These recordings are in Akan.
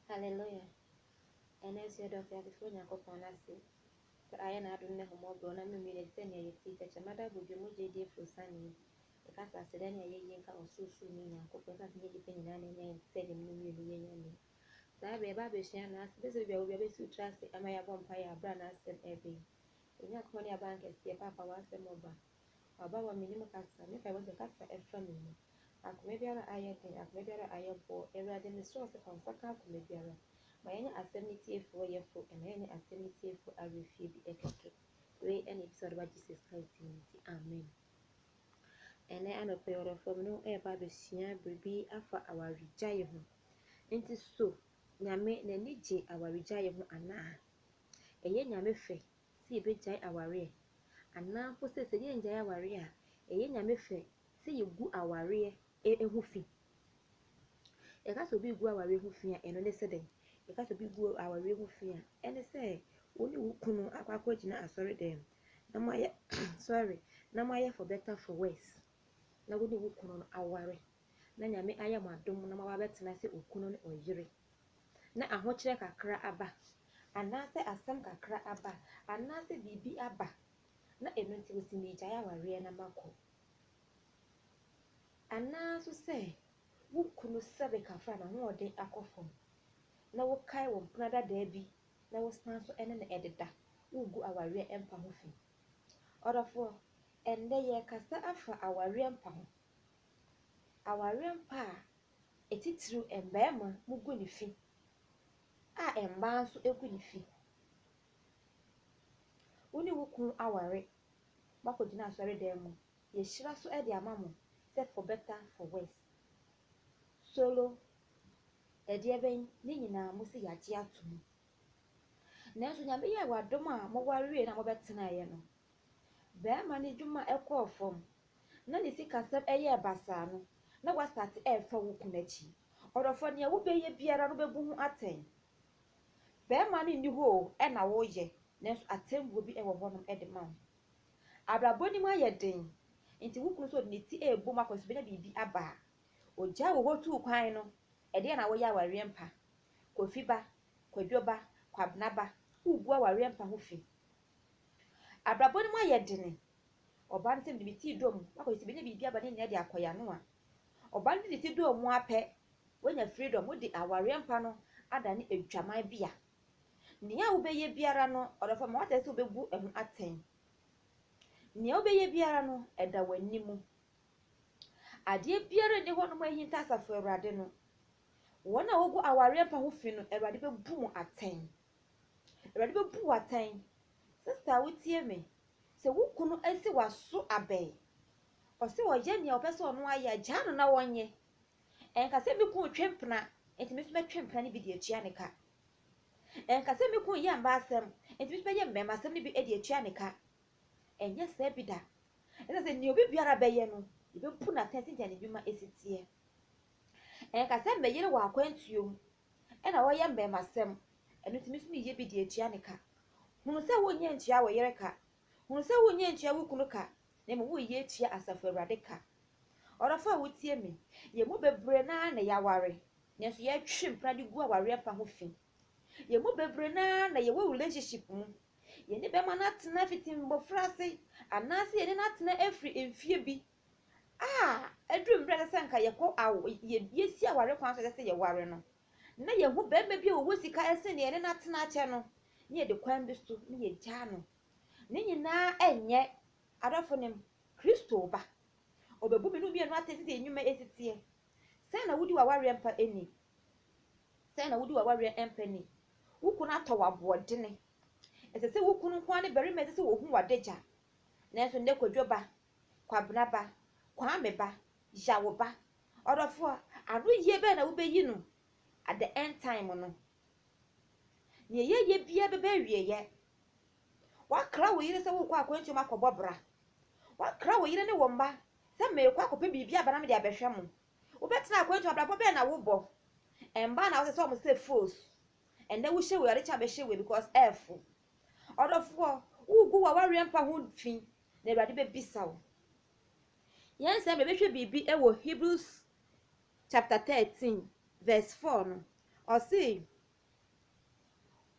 Hallelujah Ɛna nso yɛda Ɔteasefoɔ Nyankopɔn no ase sɛ ayɛ n'adom ne ahummɔborɔ na memu yɛn sɛ nea yɛte tɛkyɛma da abodwo mu gyediefoɔ asiane yi. Yɛka sɛ aseda ne ayɛyie nka Ɔsorosoroni Nyankopɔn ɛsiane sɛ ɛnyɛ nnipa nyinaa na ɛnya yɛn sɛ Dɛm no mmienu yɛ Nyame. Saa berɛ yɛba abɛsua N'asɛm ɛsɛ sɛ obiara obiara bɛsiw tra ase ama yɛabɔ mpaeɛ berɛ a N'asɛm ɛreba yi. Yɛn Nyankopɔn ne Abankɛseɛ, Paapa w'asɛm ɔba. Ɔba wɔ me ne mu kasa, me paebɔ sɛ kasa ɛfa me mu. Akoma biara a ayɛ den, akoma biara a ayɛ boɔ, Awurade mesrɛ wo sɛ fa wo nsa ka akoma biara. Ma yɛnyɛ asɛm no tiefoɔ yɛfo, ɛma yɛnyɛ asɛm no tiefoɔ awerɛ fie bi ɛkɛkɛ. Wei ɛna ɛfisɛ ɔdɔ ba Jesus Christ mu nti, amen. Ɛnɛ anɔpa yi ɔdɔfoɔ me ne wo ɛɛba abɛsua biribi afa awaregyaeɛ ho. Nti so Nyame n'ani gye awaregyaeɛ ho anaa? Ɛyɛ Nyame fɛ sɛ yɛbɛgyae awareɛ anaa mpo sɛ sɛ yɛngyae awareɛ a, ɛyɛ Nyame fɛ sɛ yɛgu awareɛ ho fi. Yɛka sɛ obi regu awareɛ ho fi a, ɛno ne sɛ dɛn? Yɛka sɛ obi regu awareɛ ho fi a, ɛne sɛ wo ne wo kunu akɔ akɔgyina asɔredɛm na moayɛ sorry, na moayɛ for better for worse, na wo ne wo kunu no aware, na Nyame ayɛ mo adom na moaba abɛtena sɛ okunu ne ɔyere. na ahokyerɛ kakra aba, anaasɛ asɛm kakra aba, anaasɛ biribi aba, na ɛno nti wɔsi meegyae awareɛ na makɔ. Anaa nso sɛ wo kunu sɛre kakra a n'ahoɔden akɔ fam, na wokae wo mpena dadaa bi na wosan nso ne no ɛdeda, woregu awareɛ mpa ho fi. Ɔdɔfoɔ, ɛnnɛ yɛrekasa afa awareɛ mpa ho. Awareɛ mpa a atitiriw mmarima mu gu ne fi a mmaa nso gu ne fi. Wo ne wo kunu aware, moakɔgyina asɔredan mu, yɛahyira so de ama mo sɛ for better for worse, solo, ɛdeɛbɛn, ne nyinaa mose yɛagye atom. Nanso Nyame yɛɛ wadom a moware wieeɛ no a mobɛtenaeɛ no, Barima no adwuma kɔɔ fam, na ne sikasɛm yɛɛ basaa no, na wastate refa wo kunu akyi. Ɔdɔfoɔ, deɛ wobɛyɛ biara no wobɛbu ho atɛn. Barima no nni hɔ o, ɛna woreyɛ, nanso atɛnbuo bi wɔ hɔnom de ma wo. Abrabɔ no mu ayɛ den, nti wo kunu nso ɔde ne ti rebɔ mu akɔ sɛ ɔbɛnya biribi aba a, ɔgyaa wo hɔ tuu kwan no, ɛdeɛn na woyɛ awareɛ mpa? Kofi ba, Kwadwo ba, Kwabena ba, wogu awareɛ mpa ho fi. Abrabɔ no mu ayɛ dene. Ɔbaa no sɛ mede me ti dɔɔ mu akɔ sɛ menya biribi aba ne nyinaa de akɔ yɛano a. Ɔbaa no de ne ti dɔɔ mu ara pɛ, wanya freedom, wode awareɛ mpa no adane adwaman bea. Nea wobɛyɛ biara no, ɔdɔfoɔ ma woate sɛ wobɛbu ɛho atɛn. Nea wobɛyɛ biara no, ɛda w'ani mu. Adeɛ biara nni hɔ nom ahinta Asafo Awurade no. Wɔn a wɔgu awareɛ mpa ho fi no, Awurade bɛbu mo atɛn. Awurade bɛbu wo atɛn. Sista a wotie me, sɛ wo kunu asi w'aso abɛn, ɔse ɔyɛ nea ɔpɛ sɛ ɔno ayɛ a, gyaa no na ɔnyɛ. Ɛnka sɛ me kunu retwe mpena, enti me nso mɛtwe mpena no bi de atua ne ka. Ɛnka sɛ me kunu yɛ mmaa asɛm, enti me nso mɛyɛ mmarima asɛm no bi de atua ne ka. Ɛnyɛ saa bi da. Ɛsɛ sɛ nea obi biara bɛyɛ no, yɛbɛbu no atɛn sɛnea ne nnwuma si teɛ. Ɛnkasɛ meyere wɔ akwantuo mu na ɔyɛ mmɛɛmasɛm, ɛno nti me nso meyɛ bi de atua ne ka. Hunu sɛ wonyɛ ntua wo yere ka, hunu sɛ wonyɛ ntua wo kunu ka, na mmom woreyɛ atua Asafo Awurade ka. Ɔdɔfo a wotie me, yɛn mu bebree no ara na yɛaware, nanso yɛretwe mpena de gu awareɛ mpa ho fi. Yɛn mu bebree no ara na yɛwɔ relationship mu, yɛne bɛrima no atena fiti mmɔfra ase, anaasɛ yɛne no atena afiri mfeɛ bi a ɛduru mmerɛ a ɛsɛ sɛ anka yɛkɔ awo yɛ yɛsi aware kwan so a ɛsɛ sɛ yɛware no, na yɛhu barima bi a ɔwɔ sika sene yɛne no atena akyɛ no, na yɛde kwan bi so na yɛgyaa no. Ne nyinaa ɛnyɛ, adɔfo nom, Kristo reba. Ɔbɛbu me ne wo mmienu atɛn sɛdeɛ yɛn nnwuma si teɛ. Sɛn na wodi w'awareɛ mpa ni? Sɛn na wodi w'awareɛ mpa ni? Wo kunu atɔ wo aboɔdene. Ɛsɛ sɛ wo kunu nko ara ne barima a ɛsɛ sɛ ɔhu w'adagya. Nanso nnɛ kwadwoba, Kwabena ba, Kwame ba, Yaw ba. Ɔdɔfoɔ, anoyie bɛn na wobɛyi no at the end time no? Deɛ yɛyɛ biara bɛba awieɛ. Woakra wo yere sɛ worekɔ akwantuo mu akɔbɔ bra. Woakra wo yere ne wo mma sɛ merekɔ akɔpɛ biribi aba na mede abɛhwɛ mo. Wobɛtena akwantuo abrabɔ bɛn na wobɔ? Mmaa na wosesa wɔn sɛ foes. Ɛnnɛ wohyɛ wei, ade kyɛ a wobɛhyɛ wei because ɛrefo. Ɔdɔfoɔ, wogu w'awareɛ mpa ho fi na Awurade bɛbisa wo. Yɛn sɛ mebɛhwɛ biribi wɔ Hebrews chapter 13 verse 4 no, ɔse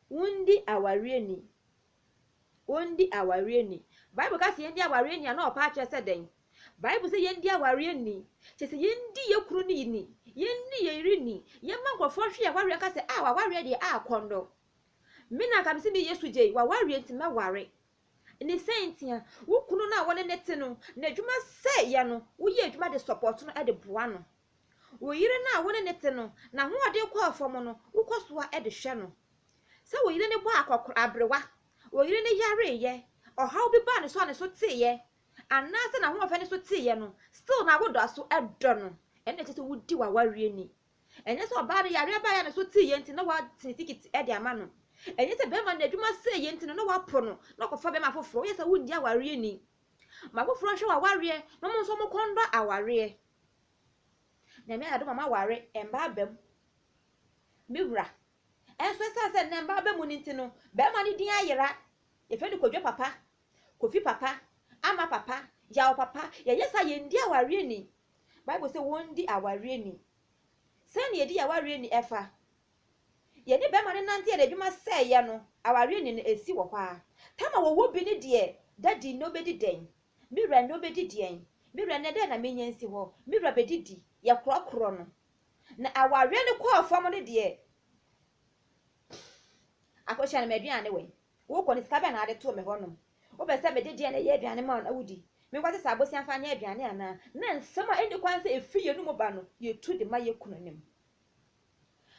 wondi awareɛ ni. Wondi awareɛ ni. Bible ka sɛ yɛndi awareɛ ni a na ɔpa akyerɛ sɛ dɛn? Bible sɛ yɛndi awareɛ ni. Kyɛ sɛ yɛndi yɛ kunu no ni, yɛndi yɛ yere ni, yɛma nkurɔfoɔ hwe awareɛ ka sɛ a ah, wawareɛ deɛ a ah, kɔndɔ. Me na nka mese me Yesu gyei, wawareɛ nti mɛware. Ne sɛ ntia, wo kunu no a wɔne no te no, n'adwuma sɛ yɛ no, woyɛ adwuma de support no de boa no. Wo yere no a wo ne no te no, n'ahoɔden kɔɔ fam no, wokɔ so ara de hwɛ no. Sɛ wo yere no bɔɔ akɔkora, aberewa, wo yere no yareeɛ, ɔhaw bi baa ne so a ne so teeɛ, anaasɛ n'ahoɔfɛ ne so teeɛ no, still na wodɔ so dɔ no, ɛnna ɛkyerɛ sɛ wodi w'awareɛ ni. Ɛnyɛ sɛ ɔbaa no yareɛ baeɛ a ne so teeɛ nti na watene tikiti de ama no. Ɛnyɛ sɛ barima no adwuma sɛeɛ nti no na wapo no na ɔkɔfa barima foforɔ. Woyɛ sɛ wonni awareɛ ni. Ma foforɔ nhwɛ w'awareɛ na wɔn nso wɔkɔ nnɔ awareɛ. Nyame ayɛ adom a moaware mmaa aba mu. Me wura, ɛnso ɛsiane sɛ nnɛ mmaa aba mu no nti no, barima no din ayera. Yɛfrɛ no Kwadwo papa, Kofi papa, Ama papa, Yaw papa. Yɛyɛ saa a, yɛndi awareɛ ni. Bible se wɔndi awareɛ ni. Sɛn na yɛdi awareɛ ni ɛfa? Yɛne bɛrima no nante yɛde adwuma sɛeɛ no, awareɛ ni no ɛsi wɔ hɔ ara. Tam a wɔwɔ bi ne deɛ, Daddy nnɛ wobɛdi dɛn? Me wura nnɛ wobɛdi deɛn? Me wura nnɛ dɛn na menya nsi hɔ? Me wura bɛdidi. Yɛkorɔkorɔ no. Na awareɛ no kɔɔ fam no deɛ, akɔhyia no, m'aduane wɛn? Wokɔ no, sika bɛn na wode too me hɔnom? Wopɛ sɛ mede deɛn na ɛyɛ aduane ma wo na wodi? Menkɔte saa bosea mfa nyɛ aduane anaa? Ná nsɛm a ɛnni kwan sɛ ɛfiri yɛn anom ba no, yɛtu de ma yɛn kununom.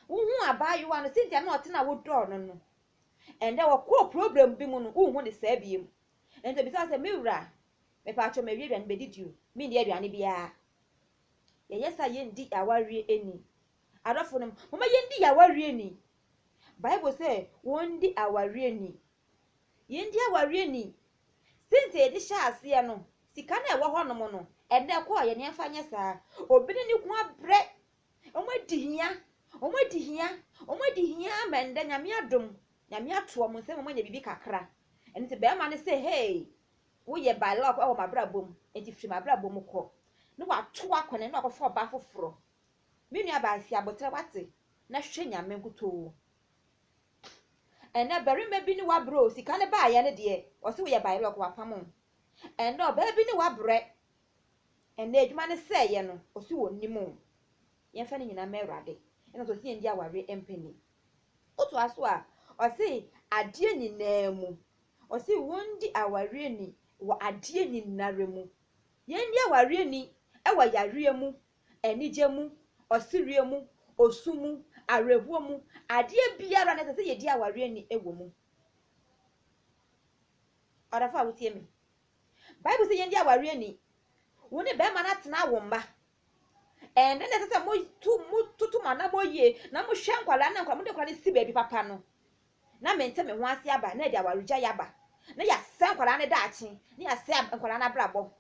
Wohuu abaayewa no sɛnti a na ɔte no a wodɔɔ no no. Ɛnnɛ, wɔkɔɔ program bi mu no, wonhu no saa bio. Enti ɔbisaa sɛ, Me wura, mepaakyɛw mawie aduane bɛdidi o, menni aduane biara. Yɛyɛ saa a, yɛnndi yɛn awareɛ ni. Adɔfonom, momma yɛndi yɛn awareɛ ni, Bible sɛ wɔndi awareɛ ni. Yɛndi awareɛ ni. Sɛntia yɛde hyɛɛ aseɛ no, sika no a ɛwɔ hɔnom no, ɛnnɛ ɛkɔ a yɛne ɛmfa nyɛ saa. Obi ne ne kunu abrɛ. Wɔadi hia. Wɔadi hia. Wɔadi hia ama ɛnnɛ Nyame adom. Nyame ato wɔn nsa mu ma wɔanya biribi kakra. Ɛno nti barima no sɛ, Hey, woyɛ by luck wɔ m'abrabɔ mu, enti firi m'abrabɔ mu kɔ. Na wato akɔne na wakɔfa ɔbaa foforɔ. Me nua baa fi aboterɛ wate na hwɛ nyame nkutoo ɛnɛ barima bi ne wabrɛ o sika ne baayɛ ne deɛ ɔse woyɛ by lock wapam o ɛnɛ ɔbaa bi ne wabrɛ ɛnɛ adwuma ne sɛ yɛ no ɔse wɔ nim o yɛmfa ne nyina ma awurade ɛna ɔsɛ ɔse yɛndi aware mpani woto aso a ɔse adeɛ nyinaa mu ɔse wɔndi awareɛ ni wɔ adeɛ nyinara mu yɛndi awareɛ ni ɛwɔ yareɛ mu Anigye mu, ɔsereɛ mu, osu mu, awerɛhoɔ mu, adeɛ biara no ɛsɛ sɛ yɛdi awareɛ ni wɔ mu. Ɔdɔfo a wotie me, Bible sɛ yɛndi awareɛ ni. Wo ne bɛrima no atena awo mma. Ɛnɛ na ɛsɛ sɛ motu mototo mo anammɔ yie na mohwɛ nkwadaa na nkwadaa mode nkwadaa no si baabi papa no. Na mente me ho ase aba na ɛde awaregyaeɛ aba. Na yɛasɛe nkwadaa no daakye, na yɛasɛe nkwadaa no abrabɔ.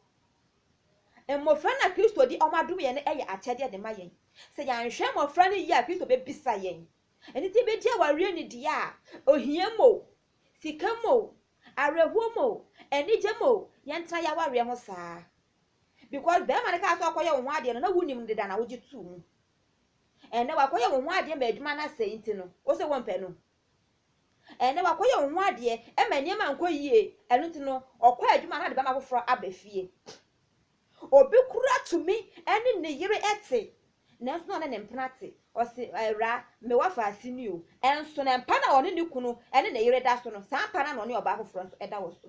Mmofra na Kristo de wɔn adom yɛn no yɛ akyɛde de ma yɛn. Sɛ yɛanhwɛ mmofra no yie a, Kristo bebisa yɛn. Ɛno nti yebegye awareɛ nnidie a, ohia mu o, sika mu o, awerɛhoɔ mu o, anigye mu o, yɛntena yɛn awareɛ ho saa. Because barima no kaa sɛ ɔkɔyɛ wo ho adeɛ no, na wonim no deda na wogye too mu. Ɛnnɛ wakɔyɛ wo ho adeɛ ma adwuma no asɛe nti no, wo se wompɛ no. Ɛnnɛ wakɔyɛ wo ho adeɛ ɛma nneɛma ankɔ yie, ɛno nti no ɔkɔ adwuma na ɔde bɛma foforɔ aba fie. Obi koraa tumi ne ne yere te nanso na ɔne ne mpena te, ɔse awuraa me w'afaase ni o, ɛnso na mpa na ɔne ne kunu ne ne yere da so no saa mpa no ara na ɔne ɔbaa foforɔ nso da wɔ so.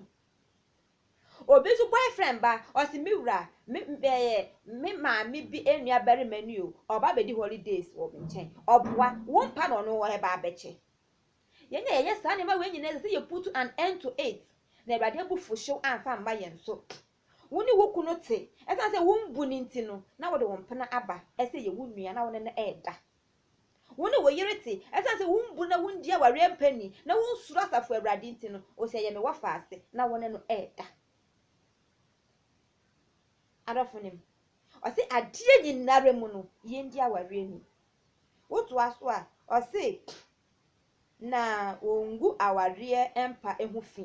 Obi nso boyfriend ba, ɔse me wura, me mɛyɛ me maame bi nuabarima ni o, ɔba abɛdi holidays wɔ me nkyɛn, ɔboa, wompa na ɔno ɔreba abɛkyɛ. Yɛn a yɛyɛ saa nneɛma wei nyinaa ɛsɛ sɛ yɛ put an end to it, na Awurade abufuhyew amfa amma yɛn so. Wo ne wo kunu te, ɛsiane sɛ wombu no nti no, na wode wo mpena aba sɛ ɛyɛ wo nua na wo ne no reda. Wo ne wo yere te, ɛsiane sɛ wombu na wundi awareɛ mpɛ ni, na wunsuro Asafo Awurade nti no, ose ɛyɛ me wɔfa ase na wo ne no reda. Adɔfo no mu. Ɔse adeɛ nyinara mu no, yendi awareɛ ni. Wotoa so a, ɔse, Na wongu awareɛ mpa ho fi.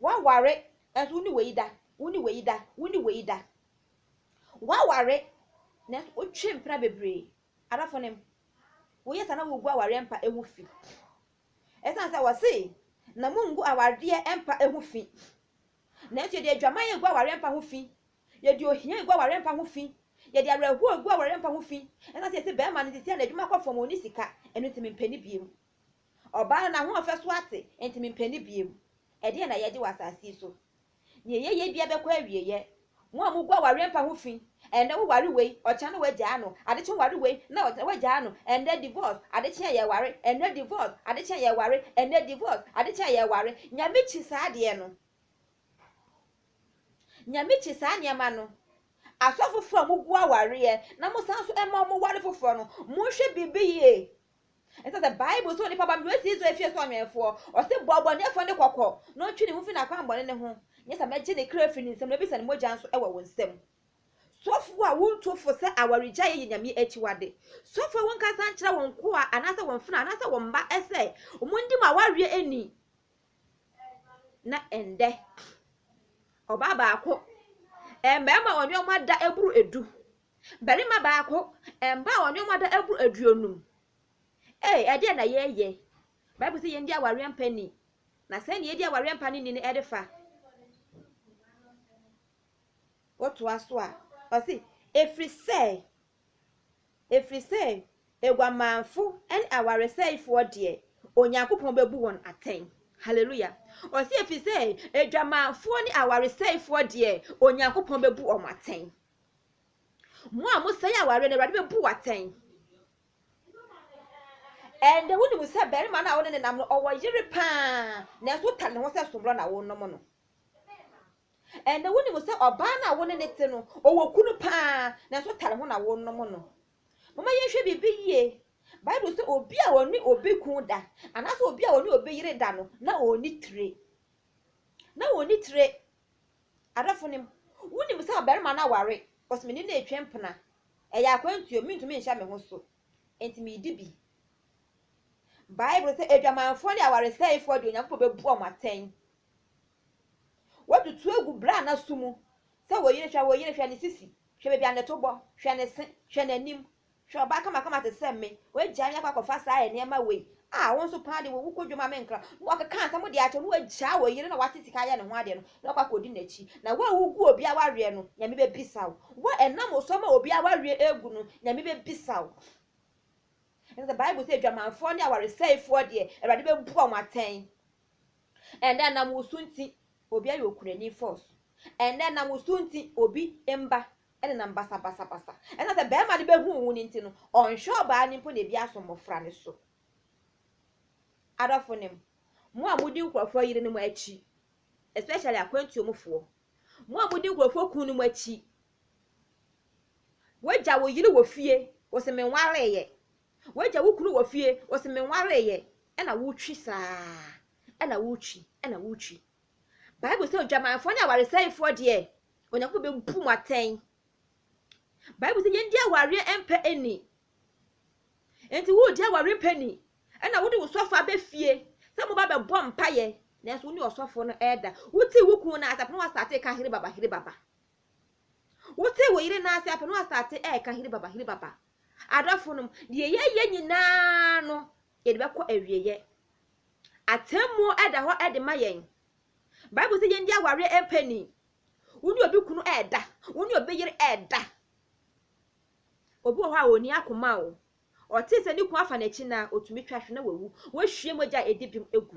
Woaware nanso wo ne wei da, wo ne wei da, wo ne wei da. Woaware nanso wotwe mpena bebree. Adɔfo no, woyɛ saa na wogu awareɛ mpa ho fi. Ɛsiane sɛ wɔse na mongu awareɛ mpa ho fi. Nanso yɛde adwaman agu awareɛ mpa ho fi. Yɛde ohia agu awareɛ mpa ho fi. Yɛde awerɛhoɔ agu awareɛ mpa ho fi. Ɛsiane sɛ yɛsɛ bɛrima no sisi a n'adwuma kɔ fam, ɔnni sika, ɛno nti mempɛ no bio. Ɔbaa no, n'ahoɔfɛ so ate, enti mempɛ no bio. Ɛdeɛn na yɛregye wɔ asase yi so? Deɛ yɛyɛ biara bɛkɔ awieeɛ. Mo a mogu awareɛ mpa ho fi, ɛnnɛ woware wei, ɔkyena no woagyaa no, adekye woware wei, na ɔkyena woagyaa no, ɛnnɛ divorce, adekye a yɛreware, ɛnnɛ divorce, adekye a yɛreware, ɛnnɛ divorce, adekye a yɛreware. Nyame kyi saa adeɛ no. Nyame kyi saa nneɛma no. Asɔfofoɔ a mogu awareɛ na mosan nso ma wɔware foforɔ no, monhwɛ biribi yie. Ɛsɛ sɛ Bible sɛ onipa ba mmerɛ si Israel fie so ɔnwɛnfoɔ. Ɔse bɔ ɔbɔneɛfoɔ no kɔkɔ na ɔntwe ne ho firi n'akwammɔne no ho, nyɛ saa mɛgye ne kra firi ne nsam na mɛbisa ne mogya nso wɔ wo nsam. Sɔfoɔ a wontu fo sɛ awaregyaeɛ yɛ Nyame akyiwade. Sɔfoɔ wonkasa nkyerɛ wo nkoa anaasɛ wo mfenaa anaasɛ wo mma sɛ wɔndi mo awareɛ ni. Na ɛndɛ ɔbaa baako mmarima a ɔne wɔn ada boro du Barima baako, mma a wɔn nneɛma da boro aduonum. Ee, ɛdeɛn na yɛreyɛ? Bible sɛ yɛndi awareɛ mpa ni. Na sɛn na yɛdi awareɛ mpa no ni no de fa? Wotoa so a, ɔse, ɛfiri sɛ, ɛfiri sɛ aguamanfo ne awaresɛefoɔ deɛ, Onyankopɔn bɛbu wɔn atɛn. Hallelujah. Ɔse, ɛfiri sɛ adwamanfoɔ ne awaresɛefoɔ deɛ, Onyankopɔn bɛbu wɔn atɛn. Mo a mosɛe aware no, Awurade bɛbu wo atɛn. Ɛnde wonim sɛ barima no a wo ne no nam no, ɔwɔ yere paa, nanso wotane ne ho sɛ soborɔ na wonom no. Ɛnde wonim sɛ ɔbaa no a wo ne no te no, ɔwɔ kunu paa, nanso wotane ho na wonom no. Momma yɛnhwɛ biribi yie. Bible sɛ obi a ɔne obi kun da, anaasɛ obi a ɔne obi yere da no, na ɔnni tire. Na ɔnni tire. Adɔfo nom, wonim sɛ ɔbarima no aware, cos me ne no retwa mpena. Ɛyɛ akwantu o, mentumi nhyɛ me ho so, enti medi bi. Bible sɛ adwamanfoɔ ne awaresɛefoɔ deɛ Onyankopɔn bɛbu wɔn atɛn. Watutu agu bra a n'aso mu sɛ wo yere hwɛ wo yere hwɛ ne sisi, hwɛ baabi a ne to bɔ, hwɛ ne se, hwɛ n'anim, Hwɛ ɔbaa kamakama te sɛ me, w'agyae no akɔ akɔfa saa nneɛma wei, a wo nso paa deɛ w'awu kɔ dwom a menkra, na ɔkeka nsɛm de akyɛ wo, na w'agyae wo yere na w'ate sika ayɛ ne ho adeɛ no, na wakɔ akɔdi n'akyi, na wo a wogu obi awareɛ no, Nyame bɛbisa wo, wo a ɛnam wo so ama obi awareɛ agu no, Nyame bɛbisa wo. Ɛne sɛ Bible sɛ adwamanfoɔ ne awaresɛefoɔ deɛ, Awurade bɛbu wɔn atɛn. Ɛndɛ ɛnam wo so nti, obi ayɛ okunani, force. Ɛndɛ ɛnam wo so nti, obi mma Ɛnenam basabasabasa. Ɛnam sɛ barima no bɛhuu wo no nti no, ɔnhwɛ ɔbaa no mpo na ebi asɔ mmɔfra no so. Adɔfonom, mo a modi nkurɔfoɔ yerenom akyi, especially akwantuo mu foɔ, mo a modi nkurɔfoɔ kununom akyi, wagya wo yere wɔ fie, wo se menwareeɛ, wagya wo kunu wɔ fie, wo se menwareeɛ, ɛna wotwi saa, ɛna wotwi, ɛna wotwi. Bible sɛ odwamanfoɔ ne awaresɛefoɔ deɛ, Onyankopɔn bebu mo atɛn. Bible sɛ yɛndi awareɛ mpɛ ani. Enti woredi awareɛ mpɛ ni, ɛna wode wo sɔfo abɛ fie sɛ moba bɛbɔ mpaeɛ, nanso wo ne ɔsɔfo no ɛda. Wotee wo kunu no ase apɛ na wasate ka hiri baba hiri baba. Wotee wo yere no ase apɛ na wasate ɛka hiri baba hiri baba. Adɔfo nom, deɛ yɛyɛ nyinaa no, yɛde bɛkɔ awieɛ. Atemmuo ɛda hɔ ɛde ma yɛn. Bible se yɛndi awareɛ mpa ni. Wo ne obi kunu ɛɛda, wo ne obi yere ɛɛda. Obi wɔ hɔ a ɔnni akoma o. Ɔtee sɛ ne kunu afa n'akyi no a, ɔtumi twa hwe na wawu. Wahwie mogya a ɛdi bem agu.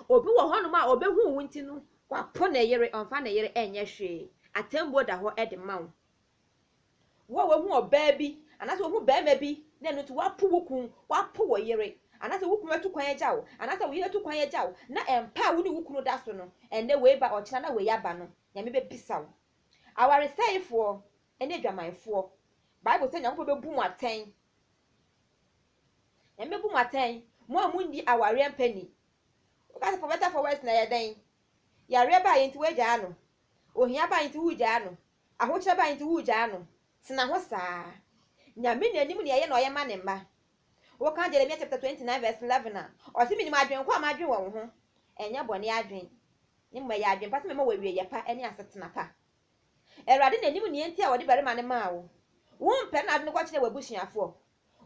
Obi wɔ hɔnom a ɔbɛhuu wo nti no, wapo ne yere, ɔmfa ne yere nyɛ hwee. Atɛmmuo da hɔ de ma wo. Wo a woahu ɔbaa bi anaasɛ woahu barima bi na ɛno nti woapo wo kunu, woapo wo yere, anaasɛ wo kunu atu kwan agya wo, anaasɛ wo yere atu kwan agya wo, na ɛmpa a wo ne wo kunu da so no, ɛnnɛ wei ba ɔkyena na wei aba no, Nyame bɛbisa wo. Awaresɛefoɔ ne adwamanfoɔ, Bible sɛ Nyankopɔn bɛbu mo atɛn. Nyame bɛbu mo atɛn, mo a monni awareɛ mpa ni. Woka sɛ for better for worse na ɛyɛ dɛn? Yareɛ baa yɛ nti woagyaa no, ohia baa yɛ nti wogyaa no, Ahokyerɛ bae nti wugyaa no. Tena hɔ saa. Nyame na nim nea eye na ɔyɛ ma ne mma. Wokan Jeremia chapter 29 verse 11 a, ɔse menim adwen ko a madwen wɔ wo ho, ɛnyɛ bɔne adwen, ne mmom ɛyɛ adwen pa sɛ mɛma wo awieyɛ pa ne asetena pa. Awurade na nim nea enti a ɔde barima no maa wo. Wompɛ no na wode no kɔkyenee w'abusuafoɔ.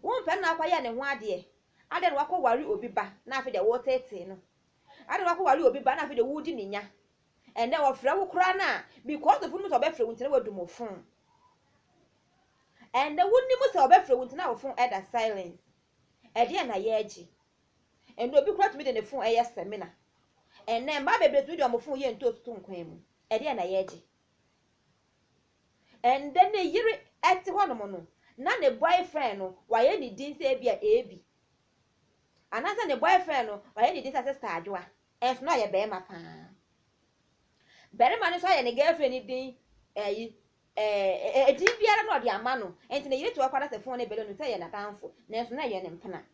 Wompɛ no na wokɔyɛɛ ne ho adeɛ. Adɛn na wakɔware obi ba na afei deɛ woreteetee no. Adɛn na wakɔware obi ba na afei deɛ woredi ne nya. Ɛnɛ ɔfrɛ wo koraa no a because of wonim sɛ ɔbɛfrɛ wo nti na wadu mo phone. Ɛnɛ wonim sɛ ɔbɛfrɛ wo nti na wo phone ɛda silence. Ɛdeɛn na yɛregye? Ɛnɛ obi koraa tumi de ne phone ɛyɛ seminar. Ɛnɛ mmaa bebree tumi de wɔn phone yɛ ntoosi to nkwan mu. Ɛdeɛn na yɛregye? Ɛnɛ ne yere ɛte hɔnom no na ne boyfriend no wayɛ ne din sɛ ebi a Ebi. Anaasɛ ne boyfriend no wayɛ ne din sɛ Sister Adwoa. Nanso na ɔyɛ barima pa ara. Barima no nso ayɛ ne girlfriend no din ayi, ɛɛ, edin biara na ɔde ama no. Enti ne yere tu akɔ adasefoɔ ne bɛrima no sɛ ɛyɛ n'adamfo, nanso na ɛyɛ ne mpena.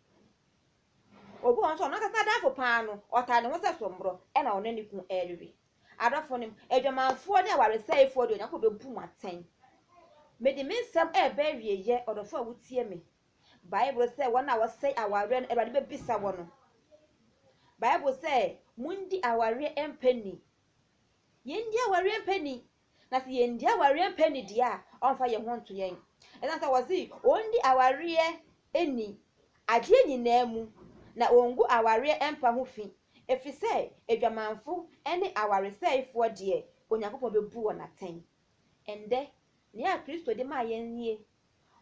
Obi wɔ hɔ nso a, ɔno ankasa n'adamfo pa ara no, ɔtaa ne ho sɛ sommorɔ na ɔne ne kunu rewe. Adɔfonom, adwamanfoɔ ne awaresɛefoɔ deɛ, Onyankopɔn bɛbu mo atɛn. Mede me nsɛm reba awieeɛ, ɔdɔfoɔ a wotie me, Bible sɛ wɔn a wɔsɛe awareɛ no Awurade bɛbisa wɔn no. Bible sɛ mondi awareɛ mpɛ ni. Yɛndi awareɛ mpɛ ni. Na sɛ yɛndi awareɛ mpɛ ni deɛ a, ɔmfa yɛn ho nto yɛn. Ɛsiane sɛ wɔse wɔndi awareɛ ni adeɛ nyinaa mu na wɔngu awareɛ mpa ho fi, ɛfiri sɛ adwamanfo ne awaresɛefoɔ deɛ, Onyankopɔn bɛbu wɔn atɛn. Ɛndɛ, nea Kristo de maa yɛn nie,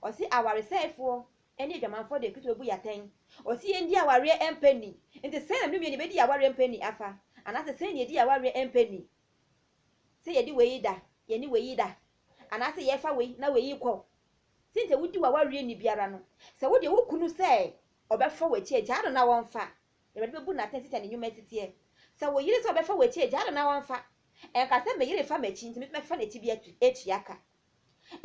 Ɔse awaresɛefoɔ ne adwamanfoɔ deɛ Kristo bɛbu yɛn atɛn. Ɔse yɛndi awareɛ mpɛ nni. Nti sɛn na me ne Numieni bɛdi awareɛ mpɛ nni afa? Anaasɛ sɛn na yɛdi awareɛ mpɛ nni? Sɛ yɛde wei da, yɛne wei da, anaasɛ yɛfa wei na wei kɔ. Sɛnti a wodi w'awareɛ nni biara no, sɛ wodeɛ wo kunu sɛ ɔbɛfa w'akyi a, gyaa no na ɔmfa. Awurade bɛbu no atɛn sɛdeɛ ne nnwuma siteɛ. Sɛ wo yere sɛ ɔbɛfa w'akyi a, gyaa no na ɔmfa. Ɛnka sɛ me yere fa m'akyi nti me nso mɛfa n'akyi bi atua ka.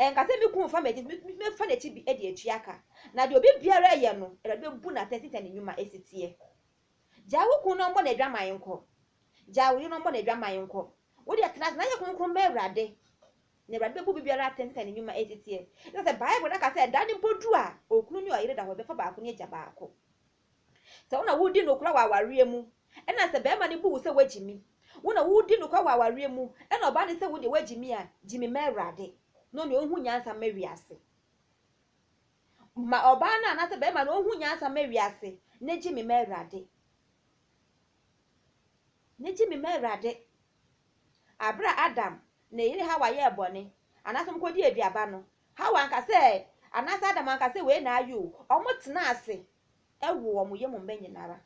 Ɛnka sɛ, 'Me kunu mfa m'akyi, enti me mɛfa n'akyi bi de atua ka. Na deɛ obi biara reyɛ no, Awurade bɛbu no atɛn sɛdeɛ ne nnwuma si teɛ. Gyae wo kunu na ɔmmɔ n'adwaman nkɔ. Gyae wo yere na ɔmmɔ n'adwaman nkɔ. Wo deɛ, tena ase na yɛ kronkron ma Awurade, na Awurade bɛbu obi biara atɛn sɛdeɛ ne nnwuma si teɛ. Esiane sɛ Bible no aka sɛ da no mpo duru a okunu ne ɔyere da hɔ, ɛbɛfa baako ne agya baako. Sɛ wo na woredi nokora wɔ awareɛ mu, ɛna sɛ barima no bu wo sɛ woagyi me, wo na woredi nokora wɔ awareɛ mu, ɛna ɔbaa no sɛ wo deɛ woagyi me a, gye me ma Awurade, na ɔne ɔnhu nyansa mma wiase. Ma ɔbaa no anaasɛ barima no ɔnhu nyansa mma wiase, na gye me ma Awurade. Na gye me ma Awurade. Abere a Adam ne yere Hawa yɛɛ bɔne, anaasɛ wɔkɔdi aduaba no, Hawa anka sɛ, anaasɛ Adam anka sɛ wei na ayɛ o, wɔn tenaa ase woo wɔn yam mma nyina ara.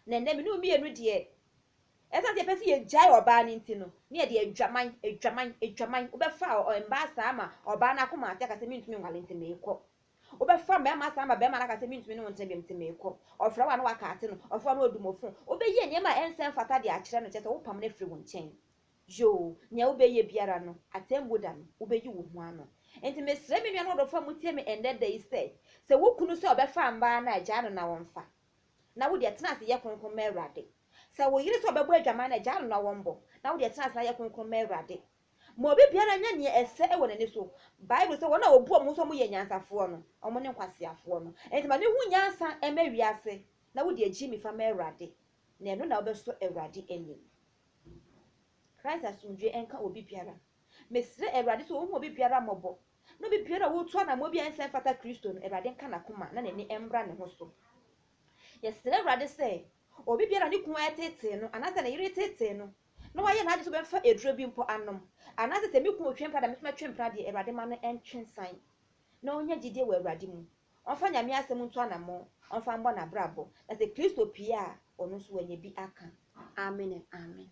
Na ɛnnɛ me ne wo mmienu deɛ, ɛsiane sɛ yɛpɛ sɛ yɛgyae ɔbaa no nti no, ne yɛde adwaman, adwaman, adwaman, wobɛfa mmaa saa ma ɔbaa no akoma ate aka sɛ mentumi nwale nti meekɔ. Wobɛfa mmarima saa ma barima no aka sɛ mentumi ne wo ntena biom nti meekɔ. Ɔfrɛ wo a na wakaate no, ɔfrɛ wo a na wadu mo fon. Wobɛyɛ nneɛma a ɛnsɛ mfata de akyerɛ no, kyerɛ sɛ wopam no afiri wo nkyɛn. Yoo, nea wobɛyɛ biara no, Atemmuo Da no, wobɛyi wo ho ano. Enti mesrɛ me nuanom adɔfoɔ a motie me ɛnnɛ da yi sɛ, sɛ wo kunu sɛ ɔbɛfa mmaa no a, gyaa no na ɔmfa. Na wo deɛ, tena ase yɛ kronkron ma Awurade. Sɛ wo yere sɛ ɔbɛbɔ adwaman no a, gyaa no na ɔmmɔ. Na wo deɛ, tena ase na yɛ kronkron ma Awurade. Ma obi biara nyɛ nea ɛsɛ wɔ n'ani so. Bible sɛ, Wɔn a wɔbu wɔn ho sɛ wɔyɛ anyansafoɔ no, wɔn ne nkwaseafoɔ no. Enti ma no hu nyansa mma wiase, na wo deɛ, gye mi fa ma Awurade, na ɛno na wobɛsɔ Awurade ani. Christ asomdwoe nka obi biara. Mesrɛ Awurade sɛ ɔhu obi biara mmɔbɔ, na obi biara a ɔretu anammɔn bi a ɛnsɛ mfata Kristo no, Awurade nka n'akoma na n'ani mmra ne ho so. Yɛsrɛ Awurade sɛ obi biara a ne kunu reteetee no anaasɛ ne yere reteetee no, na wayɛ n'adwene sɛ ɔbɛmfa aduro bi mpo anom, anaasɛ sɛ me kunu retwe mpena na me nso mɛtwe mpena deɛ, Awurade ma no ntwe nsan, na ɔnya gyidie wɔ Awurade mu. Ɔmfa Nyame asɛm ntu anamɔn, ɔmfa mbɔ n'abrabɔ, na sɛ Kristo pue a, ɔno nso wanya bi aka. Amen and Amen.